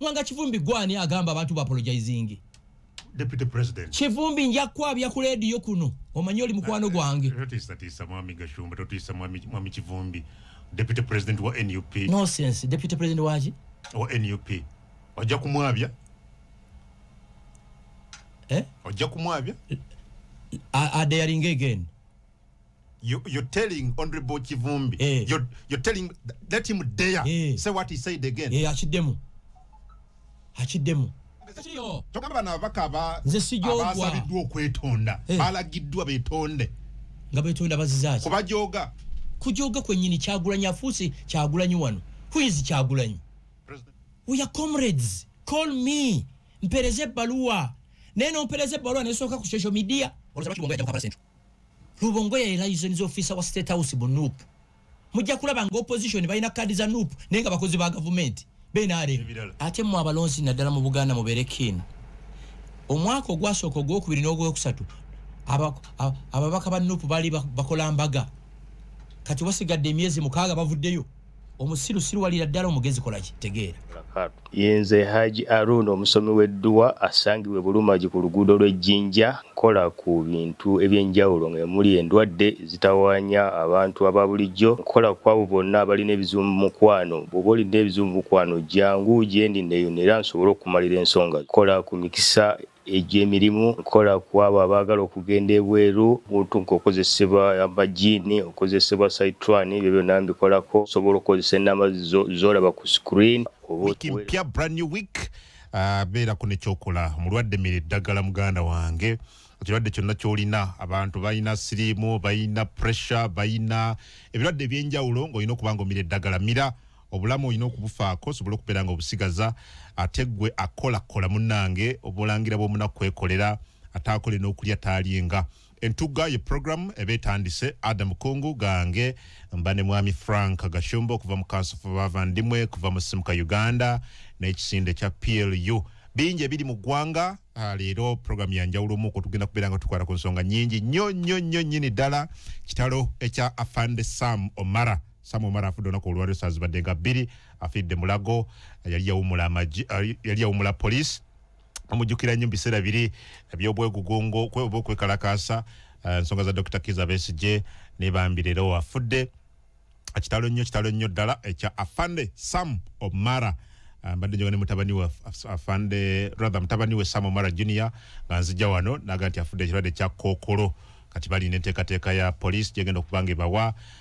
Mwanga kivumbi gwani agamba abantu bapologizingi deputy president kivumbi nja kwabya ku radio kuno omanyi oli mukwano ah, gwange eh, totisa tisa mwami gashumba totisa mwami mwami kivumbi deputy president wa NUP no sense deputy president waji wa NUP wajja kumwabya eh wajja kumwabya are they again you, you're telling honorable kivumbi eh. you're, you're telling let him dare eh. say what he said again eh, akiddemu akiddemu kyokaba bano ababaka abasaliddwa okwetonda eh. balagiddwa betonde nga betonda bazizaki kubajoga kujoga kwenyini kyagulanyi afuusi kyagulanyi wano huizi kyagulanyi weya comrades call me mpereze ebbaluwa naye nompereza ebbaluwa nesooka ku social media olosaba kibongo yajja kukabasentu lubongoya ye license officer wa state house mu nup mujja kulaba nga opposition balina kaadi za nup naye nga bakozi ba gavumenti benarem ate mwe abalonzi naddala mu buganda mubeere kin omwaka ogwasooka ogwokubiri n'ogwokusatu ababaka ba nup baali bakola mbaga kati basigadde emyezi mukaaga bavuddeyo omusiru siruwalira ddala omugezi kolaki tegeera yenze haji arun omusomi w'edduwa asangibwa ebulumagi ku luguudo lw'ejjinja nkola ku bintu eby'enjawulo nga emuli endwadde ezitawaanya abantu aba bulijjo nkola ku abo bonna abalina ebizibu mu mukwano bw'oba olina ebizibu mu mukwano jangu gyendi neeyonera nsobole okukumalira ensonga kola ku mikisa egy'emirimu nkola ku abo abaagala okugenda ebweru muntu ng'okozesebwa amajiini okozesebwa saitwani ebyo byonna mbikolako osobola okukozesa ennamba zolaba ku screen wiki mpya brand new week ah, beera ku nekyokola omulwadde mira eddagala muganda wange ekirwadde kyonna kyolina abantu balina siriimu balina pressure balina ebirwadde ebyenjawulo ng'olina okuba nga omira eddagala mira obulamu olina okubufaako osobole okubeera nga obusigaza ate gwe akolakola munange obulangira bwomunaku kwekolera ate akole n'okulya taalyenga entugga ye programu eba etandise ada mukungu gange mba ne mwami frank gashumba okuva mu kansofa bavandimwe kuva mu simuka uganda n'ekisinde kya plu bingi ebiri mu ggwanga ah, leero programu yanjawulo omu okutugenda kubeera nga tukwata ku nsonga nyingi nnyo nnyo nnyo nnyini ddala kitalo ekya afande sam omara samu omara afudde olunaku olwaliro saa zibadde nga bbiri afiiridde mulago yali yawumula poliisi amujjukira nnyo mu biseera biri ebyobwegugungo oba okwekalakaasa eh, ensonga za dr kiza besigye nebambi leero afudde kitalo nnyo kitalo nnyo ddala ekya eh, afande sam omara eh, mbadde njoga ne mutabani we afande rather mutabani we sam omara junior nga nzija wano naga nti afudde ekirwadde kya kookolo kati balina enteekateeka ya poliisi gyegenda okuba nga ebawa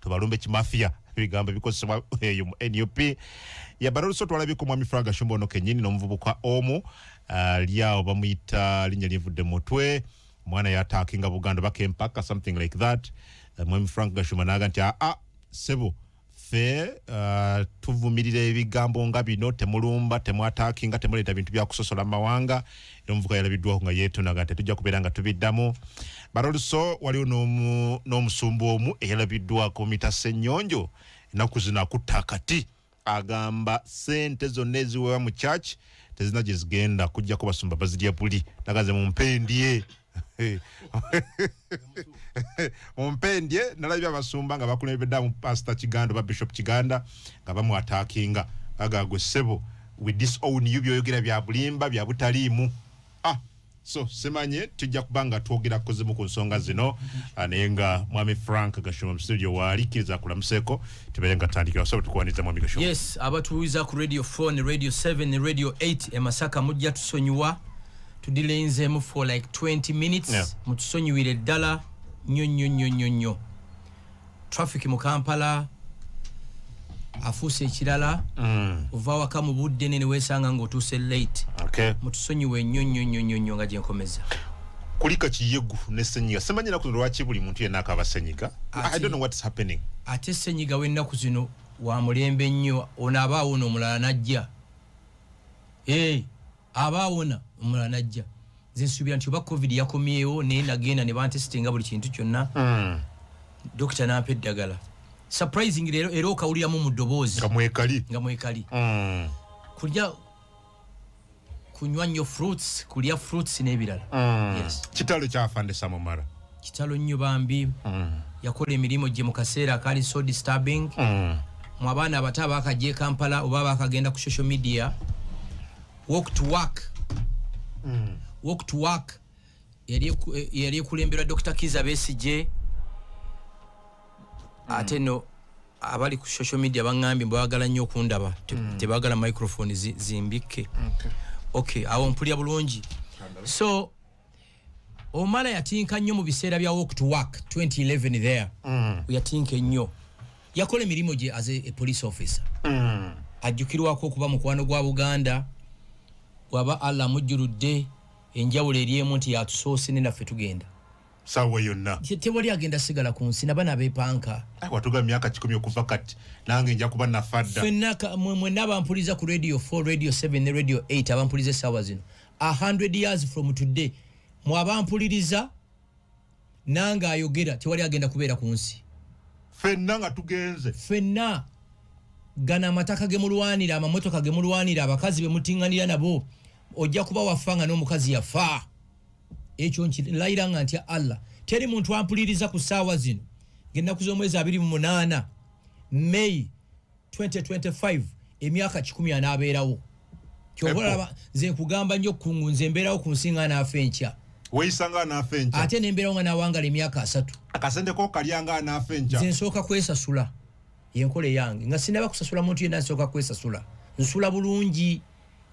tubalumbe kimafia ebigambo ebikozesebwa eyo mu nup yabala olusi otwalabika omwami frank ashumba ono kenyini n'omuvubuka omu ali awo bamuyita linnya lyevudde mutwe omwana yataakinga buganda baka empaka something like that eh, mwami frank gashumba naaga nti aa ah, ah, sebo fe uh, tuvumirira ebigambo nga bino temulumba temwataakinga temuleeta bintu byakusosola mu mawanga omuvuka yalabiddwako nga yeetona nga tetujja kubeera nga tubiddamu but also waliwo n'omusumba omu eyalabiddwako mita ssennyonjo ennaku zino akutta akati agamba sente zonna eziwewa mu church tezina gye zigenda kujjako basumba bazirya buli naganze mu mpendye mumpendye nalabye abasumba nga bakulembeddaamu pasita kiganda oba bishop kiganda nga bamwatakinga agagwe sebo we disown you byoyogera byabulimba byabutaliimu ah so simanye tujja kuba nga twogera kuzimu ku nsonga zino ah, naye nga mwami frank gashoma mustudio waali kkiriza akulamuseko tubeere nga tandikira osobola tukuwaniza mwami gashoma yes abatuwiza ku radio 4 ne radio 7 ne radio 8 emasaka mujja tusonyiwa tudilenzeemu for like 20 minutes yeah. mutusonyiwire ddala nyo nyo nyo nyo nyo traffic mu kampala afuuse ekirala mm. ova waka mu budde ne newesanga ngaotuuse late okay. mutusonyiwe nyo nyo nyo nyo nyo nga gyenkomeza kulika kiyegu ne senyiga semanya naku lwaki buli muntu yena akaba senyiga i don't know what's happening ate senyiga wenaku zino wa mulembe nnyo onaba awo no mulala najja hey. aba awona omulala najja nze nsuubira nti oba covid yakomyewo naye nagenda ne bantesitinga buli kintu kyonna hmm. dokita nampa eddagala surprising leero era okawuliramu mu ddoboozi nga mwekali nga mwekali hmm. kulya kunywa nnyo fruits kulya fruits n'ebirala hmm. kitalo kyafandesa mumara kitalo nnyo bambi mm. yakola emirimu gye mu kaseera akaali so disturbing mm. mu abaana abato abakajja ekampala oba bakagenda ku social media walk to work mm. walk to work yali ekulemberwa dr kiza besigye mm. ate no abali ku social media baŋambye mbwebagala nnyo okundaba mm. tebagala microphone zimbikke okay awo mpulira bulungi so omala yatinka nnyo mu biseera bya walk to work 2011 there mm. yatinka ennyo yakola emirimu gye as a police officer mm. ajjukirwako okuba mukwano gwa buganda waba allah amujjuludde enjawulo eri emu nti yatusoose ne naffe tugenda sawa yonna tewali agenda sigala ku nsi nabana bepanka watuga myaka kikumi okuva kati nange nja kuba nafadda fenaka mwena abampuliza ku radio 4 radio 7 ne radio 8 abampuliza esawa zino a hundred years from today mwaba mpuliriza nange ayogera tewali agenda kubeera ku nsi fenna nga tugenze fenna gana amataka ge mulwanira amamotoka ge mulwanira abakazi be mutinganira nabo ojja kuba wafa nga n'omukazi yafa ekyo nkilayira nga ntya allah teri muntu ampuliriza ku ssaawa zino ngenaku z'omwezi abiri mu munaana may 2025 emyaka kikumi anaabeerawo kyobalaba nze nkugamba nnyo kungu nze mbeerawo ku nsi nga anaafa enkya weyisa nga anaafa enkya ate nembeerawo nga nawangala emyaka asatu akasente ko kalya nga anaafa enkya nze nsooka kwesasula yenkola eyange nga sinaba kusasula muntu yenna nsooka kwesasula nsula bulungi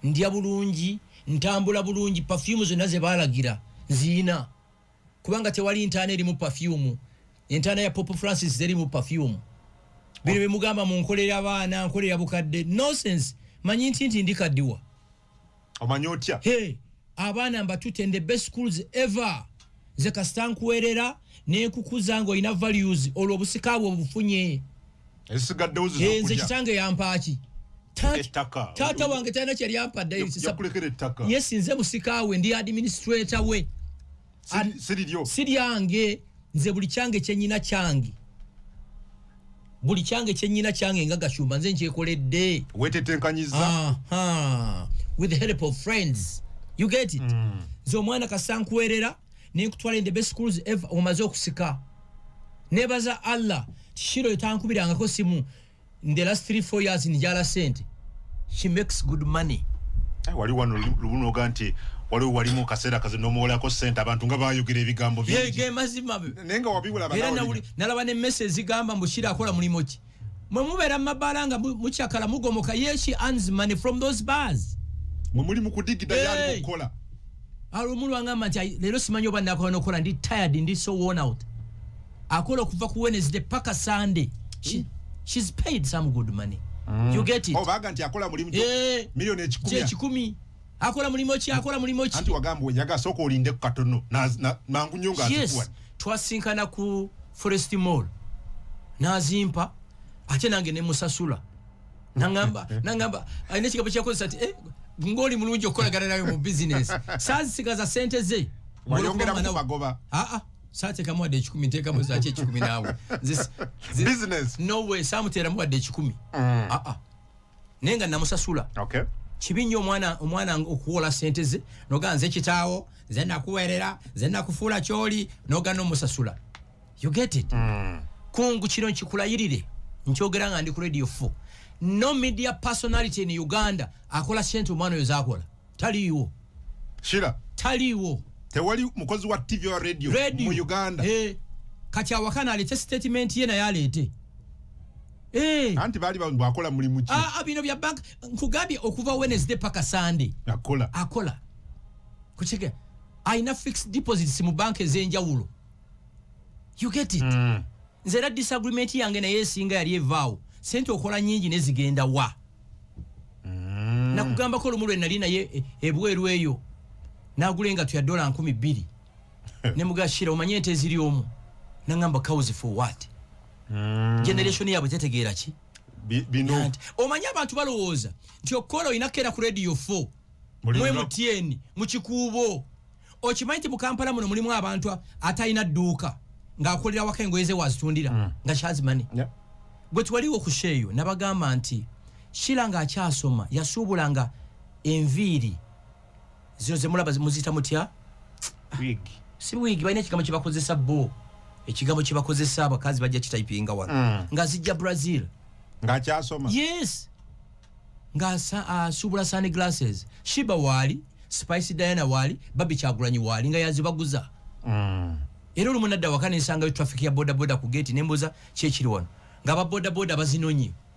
ndya bulungi ntambula bulungi pafyumu zonna ze baalagira nziina kubanga tewali ntaana erimu pafyumu entaana ya pope francis terimu pafyumu bino bye mugamba mu nkolera baana nkolera bukadde nonsense manyi nti nti ndikaddiwa omanyi otya he abaana mbatute in the best schools ever nze kasita nkuwerera nenkukuza nga olina values olwo obusika bwe obufunye eh, nze kitange yampaaki taata wange talina kyeyali ampadde yesi nze musika we ndi administrator we si lyange nze buli kyange kyenyina kyange buli kyange kyenyina kyange nga gashumba nze nkyekoledde wetetenkanyiza with the help of friends you get it mm. nze omwana kasankwerera nenkutwala in the best schools ever omaze okusika nebaza allah tishiro etankubirangako simu in the last 34 years njala sente she makes good money eh, wali wano lubunoga nti waliwo walimu kaseera kazi nomuwolako sente abantu nga bayogera ebigambo bige mazima naye nga wabiwulaba nalaba ne mese ezigamba mbu shira akola mulimu ki mwe mubeera mu mabaala nga mucakala mugomoka yeshi ans money from those bars mwe muli mukudigida yali mukukola alumu lwangamba nti leero simanyi oba nakola nokukola ndi tired ndi so worn out akola okuva ku wednesday paka sunday She, hmm? she's paid some good money mm. you get it oh, baga nti akola mulimu eh, milioni ekikumi akola mulimu ki akola mulimu ki anti wagamba wenyaga soko olinde ku katono na, na mangu nyo nga yes. atukuwa twasinkana ku forest mall nazimpa ate nange ne musasula nangamba eh, eh. nangamba ayina ekigabo kyakozesa nti eh, ngoli mulungi okukolagana nayo mu business sazisigaza sente ze wayongera ku magoba aa ah, ah. satekamu wadde ekikumi ntekamu zaki ekikumi naawe no way samuteramu wadde ekikumi aa mm. ah, naye nga namusasula okay. kibi nnyo omwana omwana okuwola sente ze noga nze kitaawo nze nakuweerera nze nakufuula kyoli noga nomusasula you get it mm. kungu kino nkikulayirire nkyogera nga ndi ku radio fo no media personality in uganda akola sente omwana oyo zakola taliiwo shira taliiwo tewali mukozi wa tv wa radio, radio. mu uganda hey. Eh, kati awakana alete statement ye naye aleete Eh. anti baali bwakola mulimu ki ah, ah, bino bya bank nkugambye okuva wednesday paka sunday akola akola kukiga alina fixed deposits mu banka ez'enjawulo you get it mm. nze era disagreement yange naye esinga yali evaawo sente okola nyingi nezigenda wa mm. nakugambako olumu lwe nali naye e, ebweru eyo nagula engatu ya dola nkumi bbiri nemugashira omanye ente eziri omu nangamba cows for what mm. generation yabwe tetegeera ki bino omanyi abantu balowooza nti okukola olina kukeera ku radio 4 mwe mutyeni mu kikuubo okimanyi nti mu kampala muno mulimu abantu atalina dduuka ng'akolera wako engoye ze wazitundira mm. nga kyazimani yeah. gwe twaliwo ku sheeyo nabagamba nti shira ng'akyasoma yasuubulanga enviiri zino zemulaba muziyita mutya si wiigi balina ekigambo kyebakozesa bo ekigambo kyebakozesa abakazi bajja kitayipinga wano mm. nga zijja brazil ngakyasoma yes ngaasuubula sani glasses shiba waali spice diana waali babi kyagulanyi waali nga yazibaguza mm. era olumu nadda waka nensangayo traffic ya bodaboda ku geti nembuuza kyekiri wano nga ababodaboda bazinonyi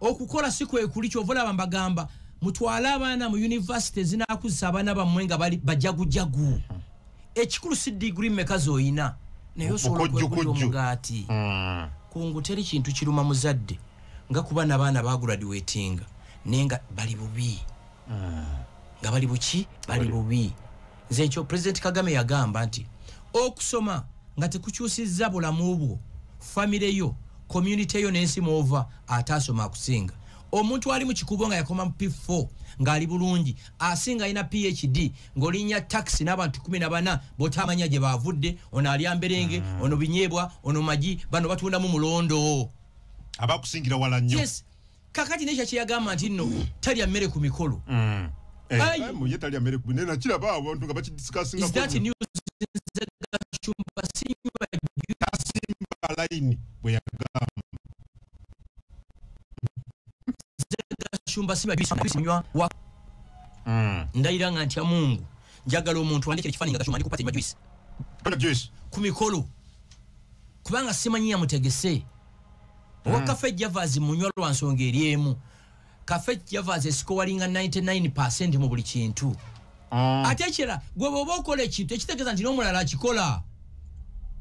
okukola si kwekuli kyova olaba mbagamba mutwale abaana mu univesity ezinakuzisa abaana bammwe nga bali bajagujagu ekikulu si digiri meka zoyina naye osobola okwegulira omugaati hmm. kungu teri kintu kiruma muzadde nga kuba nabaana baguradiwetinga naye nga bali bubi hmm. nga bali buki bali bubi nze ekyo president kagame yagamba nti okusoma nga tekukyusizza bulamu bwo famire yo community yo nensi mwova ate asoma akusinga omuntu ali mukikubo nga yakoma mu p4 ngaali bulungi asinga alina phd ngaolinya taxi n'abantu 14 botamanya gye bavudde ono alya mberenge mm. ono binyebwa ono magi bano batundamu mulondo abakusingira wala nyo yes. kakati nekyo kyeyagamba nti nno talya mmere ku mikolo mm. eh, mm. ndayira nga ntya mungu njagala omuntu wandikira ekifaananyi nga gacumba ndi kupatanywa juice ku mikolo kubanga simanyi yamutegese oba hmm. kafe javas munywa lwa nsonga eri emu kafe javas esikowalinga 99 percent mu buli kintu ah. ate ekirala gwe bwoba okola ekintu ekitegeeza nti n'omulala akikola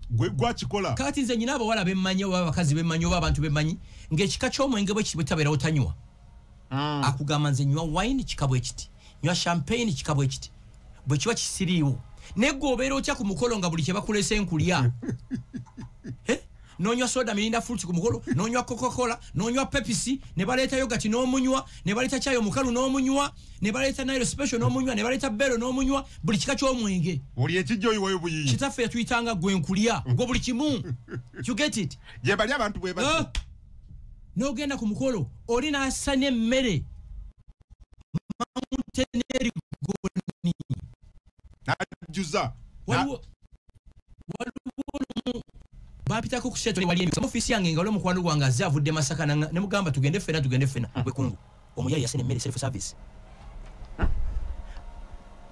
gwe gwakikola kati nze nyina abawala bemmanyi oba abakazi bemmanyi oba abantu bemmanyi ng'ekika ky'omwenge bwe kiti bwe tabeerawo tanywa ah. akugamba nze nywa wine kikabwe kiti nywa champagne kikabwe kiti bwe kiba kisiriiwo naye gwe obeera otya ku mukolo nga buli kye bakulese nkulya eh? nonywa soda mirinda fruit ku mukolo nonywa coca-cola nonywa pepisi ne baleeta yogati n'omunywa ne baleeta kyayi omukalu n'omunywa ne baleeta nairo special n'omunywa ne baleeta bero n'omunywa buli kika ky'omwenge buli ekijja oyiwayo buyiyi kitaffe yatuyitanga gwe nkulya gwe buli kimu you get it gye bali abantu bwe bati n'ogenda ku mukolo oli n'asanya emmere mountain erigoni najjuza waliwo waliwo bapitako ku seto wali emisomo ofisi yange nga omukwano gwange aze avudde masaka ne mugamba tugende fena tugende fena gwe kungu omuyayi yasene mmere self service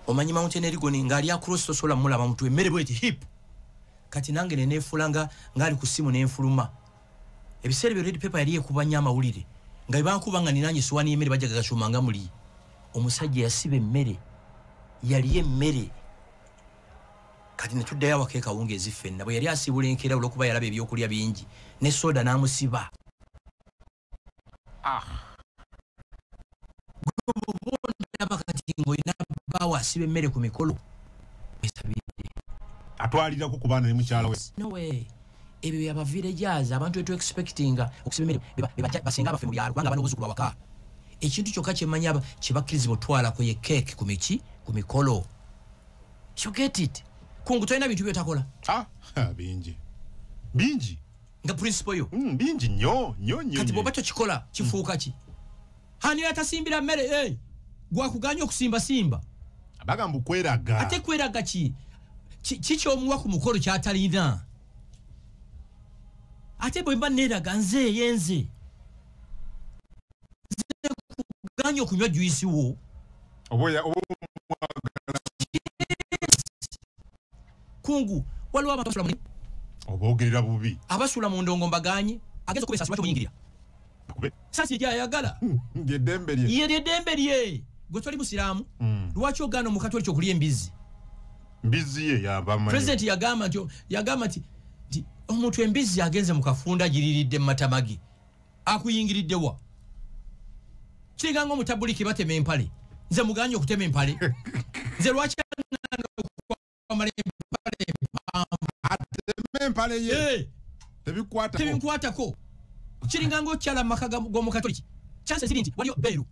omanyi mountain erigoni nga ali across tosobola mulaba mutwe mmere bweti hip kati nange neneefuula nga ngaali ku ssimu nenfuluma ebiseera ebyo red paper yali ekuba nnyo amawulire nga ebankuba nga ninanye siwani yemmere bajagagacuma nga muli omusajja yasiba emmere yali emmere kati netuddayo awaka ekawungeezi ffenna bwe yali asiibula enkeera olwokuba yalaba ebyokulya bingi ne soda n'amusiba ah. gobondaba kati ngaolina baawo asiba emmere ku mikolo esabire atwalirako ku baana ne mukyala we ebyo byabaviira egyazi abantu etu expectinga okusiba emirimu basinga abaffe mu byalo kubanga bana obuzukulu awaka ekintu kyokka kyemanya kyebakkirizibwa otwalako ye keeki ku miki ku mikolo you get it kungu tolina bintu byotakola ah, bingi bingi nga principle yo mm, bingi nyo nyo nyo kati bwoba tokikola kifuuka ki mm. hani yatasimbira mere eh gwa kuganya okusimba simba abaga mbukweraga ate kweraga ki kicho omuwa ku mukoro kyatalina ate bwe mba nera ganze yenze kuganya okunywa juisi wo oboya obo kungu waliwo abantu basula muni obogerera bubi abasula mu ndongo mbaganye agenza kubesa sibati muyingira kube sasi ya yagala ye dembe lye ye dembe lye gwe toli musiramu mm. lwaki ogano mu katoli kyokulya embizi mbizi ye ya bama president ya gama nti ya gama nti omuntu embizi agenze mu kafunda giriridde matamagi akuyingiridde wa kiringa nga omutabuliki batema empale nze muganye okutema empale nze lwaki tebinkwatako kiringa nga okyala mu maka g'omukatoliki chanse ziri nti waliyo beeru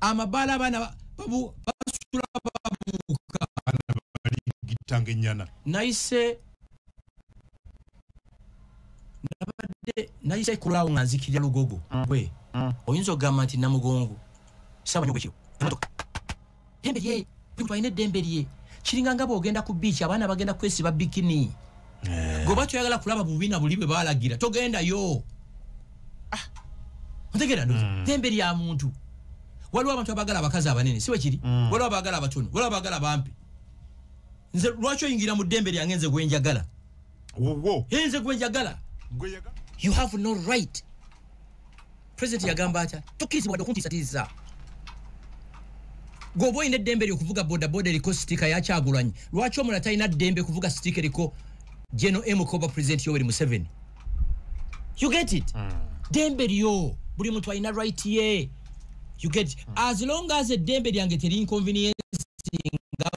amabaala abaana basula babuuka gitanga ennyana nayise nabadde nayise kulaawo nga nzikirira lugogo mm. gwe mm. oyinza okugamba nti namugongo saba nyo bwekiro emotoka ddembe lye muntu alina eddembe lye kiringa nga bwogenda ku biiki abaana bagenda kwesiba bikini eh. goba kyoyagala kulaba bubi na buli bwe balagira togendayo ah. otegera ndoza hmm. ddembe lya muntu waliwo abantu abagala abakazi abanene si wekiri hmm. waliwo abagala abatono waliwo abagala bampi nze lwaki oyingira mu ddembe lyange nze gwenjagala nze gwenjagala you have no right president yagamba atya tukirizibwa dde okuntiisatiisa gweoba olina eddembe lyo okuvuga bodaboda eriko sitika yakyagulanyi lwaki omula talina ddembe kuvuga sitika eriko geno emukoba president yoweri museveni you get it mm. dembe lyo buli muntu alina right ye you get it mm. as long as eddembe lyange teri inconvenience nga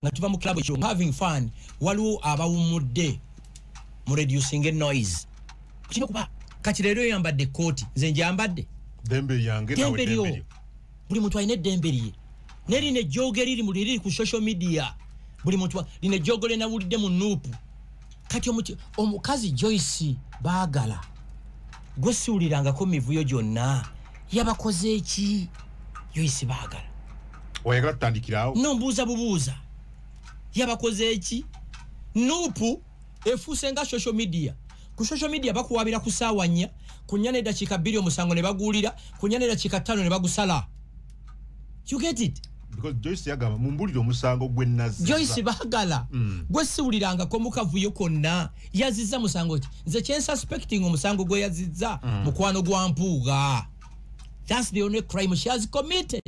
nga tuva mu club ekyo having fun waliwo abawumudde mu reducing noise kino kuba kati lero yambadde koti nze njambadde dembe yange nawe dembe lyo buli muntu ayine dembe lye neri ne jogeri liri mu liri ku social media buli muntu line jogole na wulide mu nupu kati omuti omukazi joyce baagala gwe siwulirangako mivuyo gyonna yabakoze eki joyce baagala oyagala tutandikirawo no mbuuza bubuuza yabakoze eki nupu efuuse nga social media ku social media bakuwabira ku saawa nnya ku nnya n'eddakiika bbiri omusango ne baguwulira ku nnya n'eddakiika ttaano ne bagusala you get it because joyce yagamba mumbulire omusango gwe nazi joyce bagala mm. gwe siwuliranga ko mukavuyo konna yaziza musango ki nze kyen suspecting omusango gwe yaziza mm. mukwano gwa mpuuga that's the only crime she has committed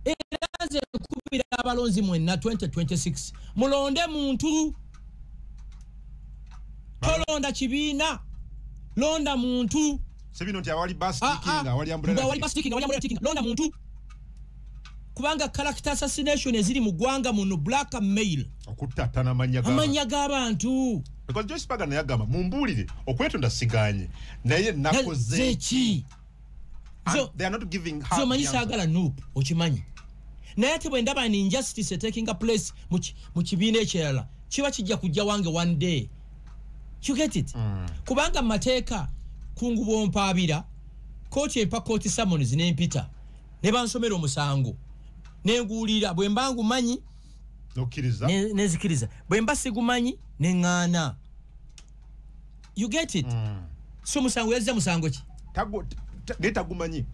eraze kubira abalonzi mwenna 2026 mulonde muntu tolonda kibiina londa muntu sebino nti awali bus ah, kicking ah. awali umbrella awali bus kicking awali umbrella kicking londa muntu kubanga character assassination eziri mu gwanga muno black mail okutatana manya ga manya ga bantu because just paga naye agamba mumbulire okwetonda siganye naye nakoze ki so they are not giving her so manyi sagala noop okimanyi naye ate bwe ndaba an injustice taking a place mu kibiina ekirala kiba kijja kujja wange one day you get it mm. kubanga mateeka kungubo mpaabira kooti empa kooti summons nempita ne bansomera omusango nenguulira bwe mba ngumanyi nenzikiriza bwe mba sigumanyi neŋŋaana you get it mm. so musango yazza musango ki naye tagumanyi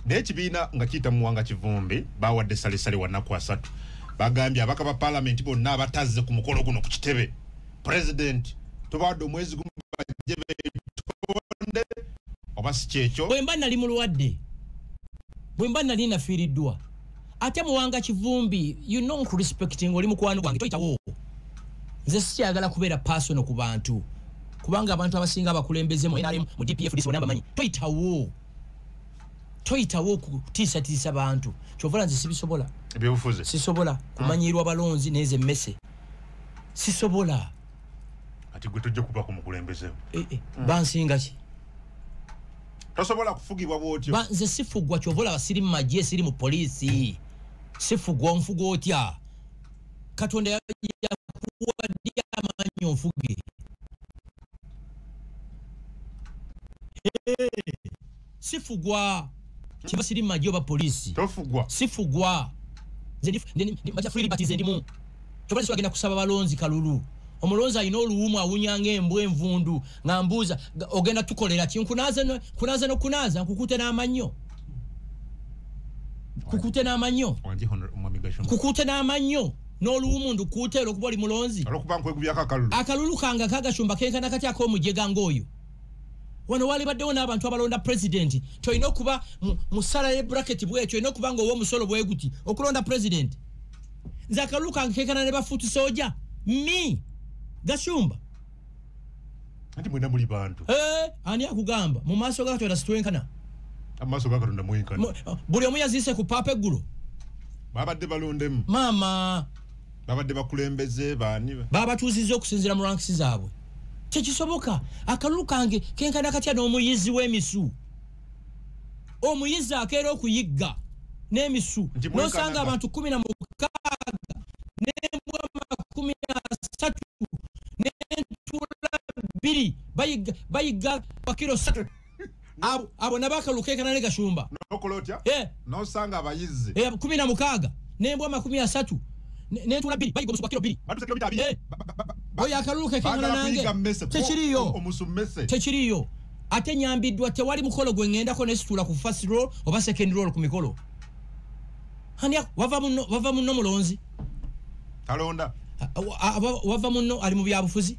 naye ekibiina nga kiyita muwanga kivumbi bawadde salesale wanaku asatu bagambye abaka ba palamenti bonna abatazze ku mukolo guno ku kitebe president tubawadde omwezi gumu bajje betonde oba si kyekyo bwemba nali mulwadde bwemba nali nafiiriddwa ate muwanga kivumbi you know nkurespecting oli mukwano gwange toyitawo nze sikyagala kubeera personal ku bantu kubanga abantu abasinga abakulembeze mu nrm mu dpf disibona bamanyi toyitawo toyitawo okutiisatiisa bantu kyovula nze sibisobola sisobola kumanyirwa balonzi nezo emmese sisobola ati gwe tojja kuba ku mukulembeze eh, eh, hmm. bansinga ki tosobola kufugibwa bwotyo nze sifugwa kyova olaba siri mu magye siri mu poliisi sifugwa onfuga otya katonda yakuwadde amaanyi onfuge sifugwa kiba siri maji oba polisi tofugwa sifugwa maja free liberty ze ndimu tobali swagenda kusaba balonzi kalulu omulonzi alina oluwumu awunya ng'embwa envundu nga mbuuza ogenda tukolera ki nkunaaze nokunaaza nkukute n'amannyo kukute n'amannyo kukute n'amannyo n'oluwumu ndukuute olwokuba oli mulonzi akalulu kange akagashumba kenkana kati ak'omujega ng'oyo wano walibaddewo n'abantu abalonda pulezidenti tolina okuba mu sala ye buraketi bwekyo olina okuba nga owa omusolo bweguti okulonda pulezidenti nze akalulu kange kekana ne bafuuti soja mi gashumba anti mwena muli bantu eh, ani akugamba mu maaso ga katonda sitwenkana amaaso ga katonda mwenkana buli omu yaziise ku paapa eggulo babadde balondemu maama babadde bakulembeze baani babatuuzizza okusinzira mu ranks zaabwe tekisoboka akalulu kange kenkana katya n'omuyizi w'emisu omuyizi akeera okuyigga n'emisu nosanga abantu kumi na mukaaga nembwa makumi asatu nentuula bbiri bayigga bakiro satu abo nabo akalulu kekana ne gashumba nokola otya eh. nosanga abayizzi eh, kumi na mukaaga nembwa amakumi asatu nentula biri bayiga omusu gwa kiro biri eh. oyo akalulu kekekana nange tekiriyo tekiriyo ate nyambiddwa tewali mukolo gwe ŋŋendako nesitula ku fast roll oba second roll ku mikolo ani wava munno mulonzi talonda wava munno ali mu byabufuzi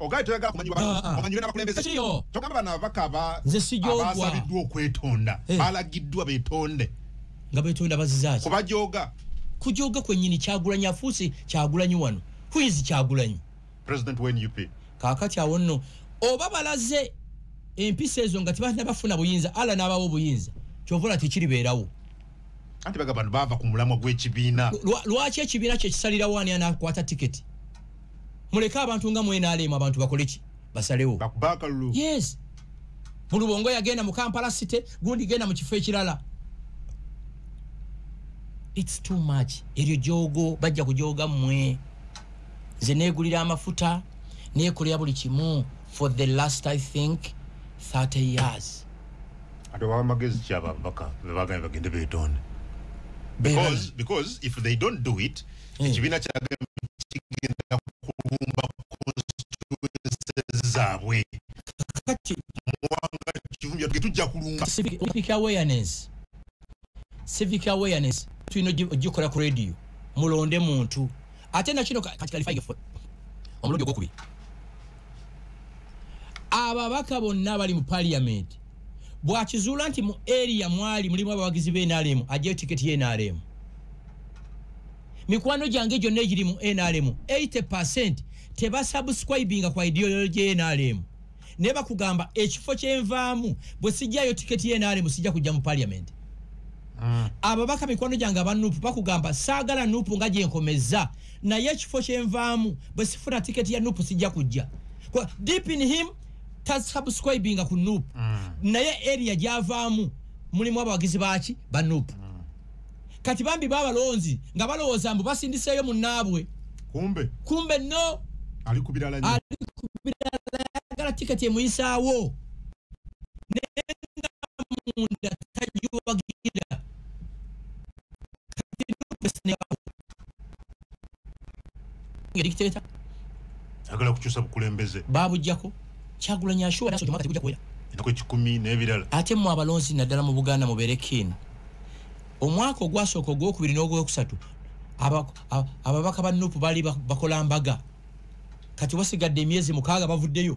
ogaye toyagala kumanyibwa ah, ah. omanyibwe n'abakulembeze togamba bano ababaka abaasabiddwa okwetonda eh. balagiddwa betonde nga betonda bazizaki kubajoga kujoga kwenyini kyagulanyi afuusi kyagulanyi wano huizi kyagulanyi president wa nup kakati awo nno oba balaze empisa ezo nga tebanabafuna buyinza ala n'abawo obuyinza kyovula tekiribeerawo anti bagamba nti baava ku mulamwa gw'ekibiina lwaki ekibiina kye kisalirawo ani anakwata tiketi muleke abantu nga mwenaleemu abantu bakole ki basalewo bakubakalulu yes bulubongo yagenda mu kampala city gundi genda mu kifo ekirala its too much eryo jogo bajja kujoga mwe nze negulira amafuta nekolera buli kimu for the last i think 30 years ate obawa magezi ki abo ababaka bebagambye bagende betonde because, because if they don't do it hmm. ekibiina kyagambye kigenda kulumba constituences zaabwe kati muwanga kivumbi tujja kulumba civic awareness civic awareness tulina ogikola ku radio mulonde muntu ate nakino kati kalifaiga fo omulundi ogwokubiri ababaka bonna abali mu parliament bwakizuula nti mu area mwali mulimu abawagizi be nrm ajayo tiketi ye nrm mikwano gyange gyonna egiri mu nrm 80 percent tebasubscribinga kwa ideology ye nrm naye bakugamba ekifo kyenvaamu bwe sijjayo tiketi yenaremu sijja kujja mu paliamenti ah. ababaka mikwano gyange aba nupu bakugamba saagala nupu nga gyenkomezza naye ekifo kyenvaamu bwe sifuna tiketi ya nupu sijja kujja deep in him tasubscribinga ku nupu ah. naye eria gyavaamu mulimu abawagizi baaki ba nupu ah. kati bambi babalonzi nga balowooza mbu basindiseeyo munnaabwe kumbe kumbe no ali ku birala nyo ali ku birala yagala tiketi emuyisaawo naye nga munda tagiwagira kati nupesinabakuba ngedikiteta agala kukyusa bukulembeze babujjako kyagulanyi ashuwa naso kyomaka tekuja kuwera enako ekikumi n'ebirala ate mu abalonzi naddala mu buganda mubeere kin omwaka ogwasooka ogwokubiri n'ogwokusatu ababaka ba nupu baali bakola mbaga kati wasigadde emyezi mukaaga bavuddeyo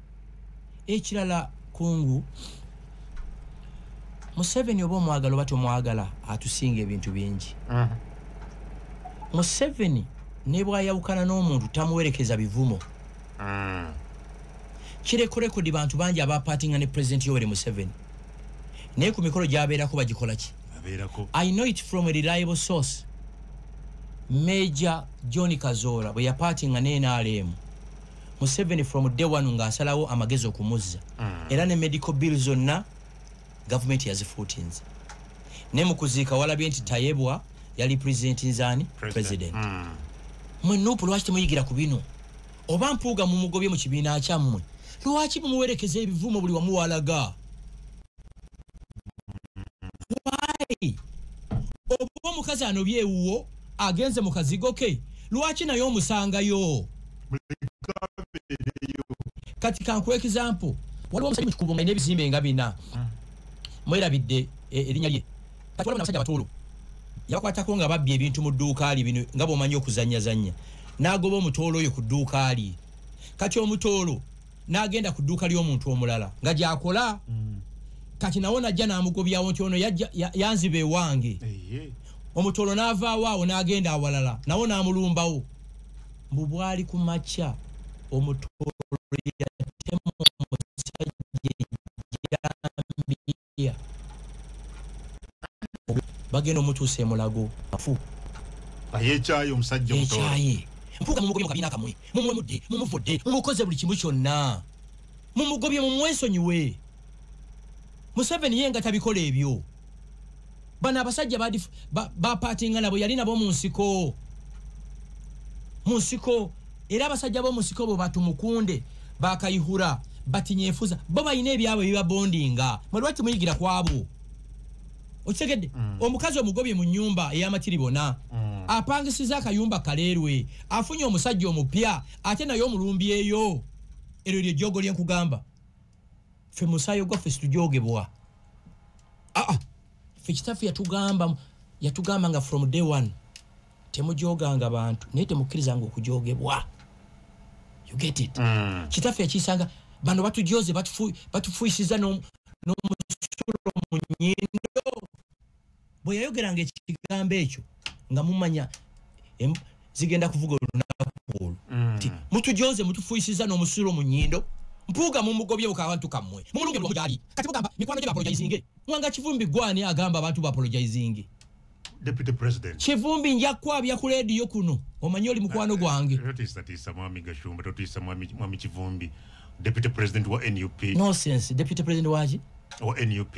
ekirala kungu museveni oba omwagala oba tomwagala atusinga ebintu bingi mhm. museveni nebwayawukana n'omuntu tamuwerekeza bivumo mm. kireko rekodi bantu bangi abapatinga ne pulezidenti yoweri museveni naye ku mikolo gyabeerako bagikola ki i know it from a reliable source major john kazoora bwe yapatinga ne nrm museveni from day one nga asalawo amagezi okumuzza mm. era ne medical bill zonna gavumenti yazifuutinze naye mukuziika walabye nti tayebwa yali president nzani president mm. mwe nupu lwaki temuyigira ku bino oba mpuuga mumugobye mu kibiina kyammwe lwaki mumuwerekeza ebivumo buli wamuwalaga why oba omukazi anobye ewuwo agenze mu kazigo ke lwaki naye omusangayo kati kankuwa ekizampu waliwo omusajja mukikubo nga nebizimbe nga bina mwerabidde eh, erinya lye kati waliwo nabasajja batuulu yakwatako nga babbye ebintu mu dduuka li bino nga bwomanyi okuzanyazanya n'agoba omutoolo oyo ku dduuka li kati omutoolo n'agenda ku dduuka ly'omuntu omulala nga gyakola mm. kati nawo najja n'amugobyawo nti ono yanziba ewange omutolo n'avaawo awo n'agenda awalala nawo n'amulumbawo mbu bwali ku makya omutolo bagenda omutuusa emulago afu ayekyaye omusajja ekyaye mpuga mumugobye mukabina kamwe mumwe mudde mumuvudde mumukoze buli kimu kyonna mumugobye mumwesonyiwe museveni ye nga tabikola ebyo bano abasajja bapatinga nabo yali nabo mu nsiko mu nsiko era abasajja b'omu nsiko bwe batumukunde bakayihura batinyefuza bo balina ebyabwe bibabondinga mwelwaki muyigira kwabo okitegedde mm. omukazi omugobye mu nyumba eyamakiri bona mm. apangisiza akayumba kaleerwe afunye omusajja omupya ate naye omulumbi eyo eryo lyejogo lyenkugamba ffe musaayo gwaffe situjogebwa aa ah, ffe kitaffe yatugamba yatugamba nga from day one temujoganga bantu naye temukkirizanga okujogebwa you get it mm. kitaffe yakiyisanga bano batujoze batufuisiza n'omusulo mu nyindo bwe yayogeranga ekigambo ekyo nga mumanya zigenda kuvuga olunaku olwo mm. nti mutujoze mutufuyisiza n'omusulo mu nyindo mpuuga mumugobye bukabantu kammwe mumulunge lwomujaali kati mugamba mikwano gye bapologizinge mwanga kivumbi gwani agamba abantu bapologizinge deputy president kivumbi nja kwabya ku leediyo kuno omanyi oli mukwano ah, gwange eh, totiisatiisa mwami gashumba totiisa mwami kivumbi deputy president wa nup no sense deputy president waki wa nup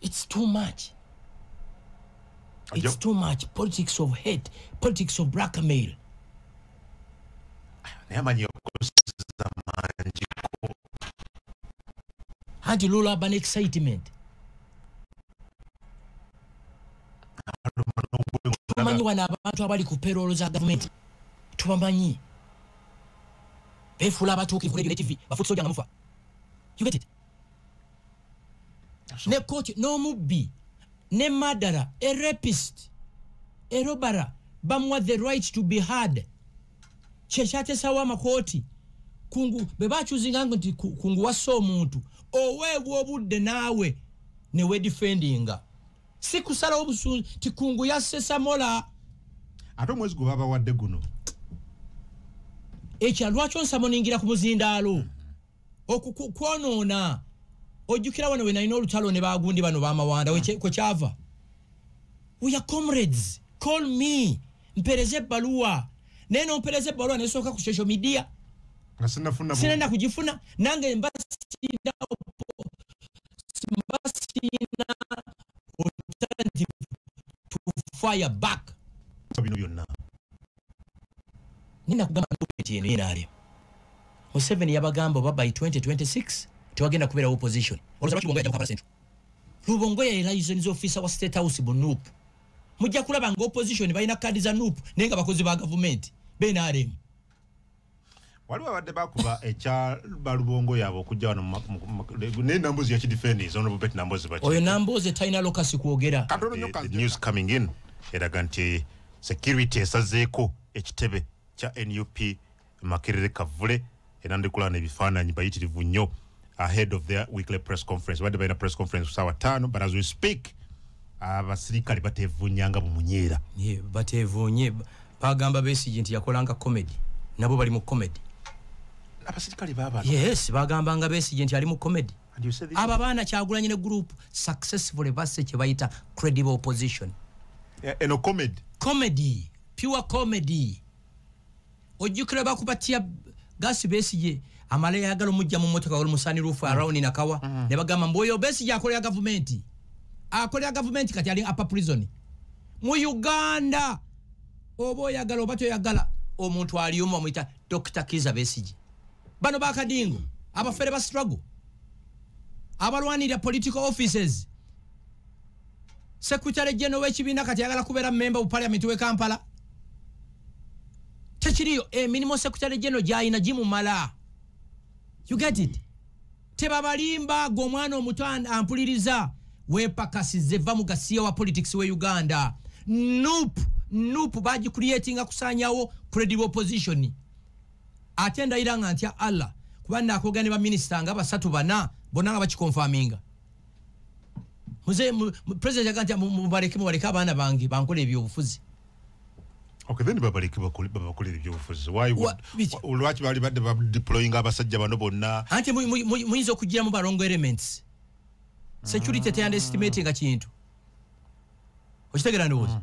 it's too much it's too much politics of hate politics of blackmail naye amanyi okusiza mangi anti lula aba ne excitement tumanyi wano abantu abali ku peroolo za gavumenti tubamanyi befuula abatuukivu regulative bafuti soja nga mufa you get it ne koki n'omubbi ne madara a rapist erobara bamuwa the right to be hard kyekyatesawo amakooti kungu bwe bakyuzinga ngo nti kungu wasa omuntu oweebwa obudde naawe newedifendinga si kusalawo busunzi ti kungu yasesamola ate omwezi gwe babawadde guno ekya lwaki onsamoningira ku muzindaalo mm -hmm. okukwonoona ojjukira wano wenalina olutalo ne bagundi bano bamawanda hmm. kwekyava weya comrades call me mpereza ebbaluwa naye nompereza ebbaluwa nesooka ku social media sinenda kugifuna nange mbasinda mbasinda alternative to fire back bino byonna nina kugamba document eno yenaalyo museveni yabagamba oba by 2026 tewagenda kubeerawo opposition lubongo yaelayisoni zofisa wa state house bu nup mujja kulaba nga opposition balina kaadi za nup naye nga bakozi ba gavumenti benaremu waliwo abadde bakuba ekya balubongo yaabwe okujja wano naye nambozi yakidifendinsa ono bobet nambozi baki oyo nambozi talina lokasi kwogera katono nyo kanzeka news coming in eraga nti security esazeeko ekitebe kya nup makerere kavule era ndikulana ebifaananyi bayitirivu nnyo ahead of their weekly press conference badde balina press conference kusawa tano but as we speak abasirikale batevunya nga bumunyeera yeah, batevunye bagamba besigi nti yakolanga comedy nabo bali mu comedy abasirikale baba yes bagamba nga besigi nti ali mu comedy abo abaana kyagulanyi ne group successfully basse kye bayita credible opposition eno yeah, comedy comedy pure comedy ojjukira bakubatya gasi besigye amala yagala omujja mu motoka oli musani rufu mm. around nakawa mm. ne bagamba mbu oyo besigye akolera gavumenti akolera gavumenti kati ali apa prison mu uganda oba oyagala oba toyagala omuntu aliyomu bamuyita dr kiza besigye bano bakadingo abafere ba struggle abalwanirira political offices Secretary General w'ekibiina kati ayagala kubeera memba bu parliament w'e Kampala. Tekiriyo emirimu eh, Secretary General gy'alina gimumala. You get it? Tebabalimba gwe omwana omuto ampuliriza weepakasize va mu gasiya wa politics w'e Uganda. Nup, nup bagicreatinga kusaanyawo credible opposition. Ate ndayira nga ntya Allah kuba naakogera ne baminisita nga basatu bana bonna nga bakikonfaminga. muze president yaga nti mubaleke mubaleke abaana bange bankola ebyobufuzi Okay, then babaleke babakolera ebyobufuzi lwaki bali badde badeployinga abasajja bano bonna anti muyinza okugiramu balongo elements security teyandestimatinga kintu okitegera ndowooza mm.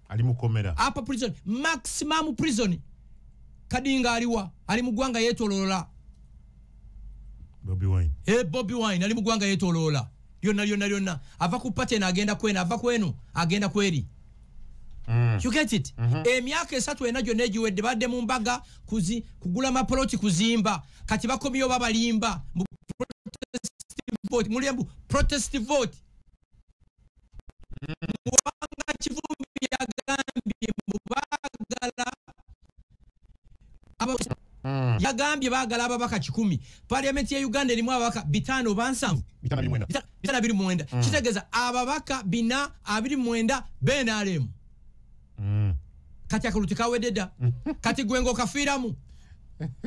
ali mukomera apa prison maximum prison kadinga aliwa ali mugwanga yetolola bobi wine eh bobi wine ali mugwanga yetolola yona yona yona ava ku party na agenda kwena ava kwenu agenda kweli Mm. You get it? Mm -hmm. E miaka esatu enajo neji wedi bade mumbaga kuzi, kugula mapoloti kuzimba kati bako miyo baba limba mbu protest vote muli mbu protest vote muwanga kivumbi yagambye mbu baagala hmm. yagambye baagala ababaka kikumi paliamenti ya uganda erimu ababaka bitaano oba nsanvu bitaano abiri mwenda hmm. kitegeeza ababaka bina abiri mwenda benaremu hmm. kati akalulu tekawedde dda kati gwenga okafiiramu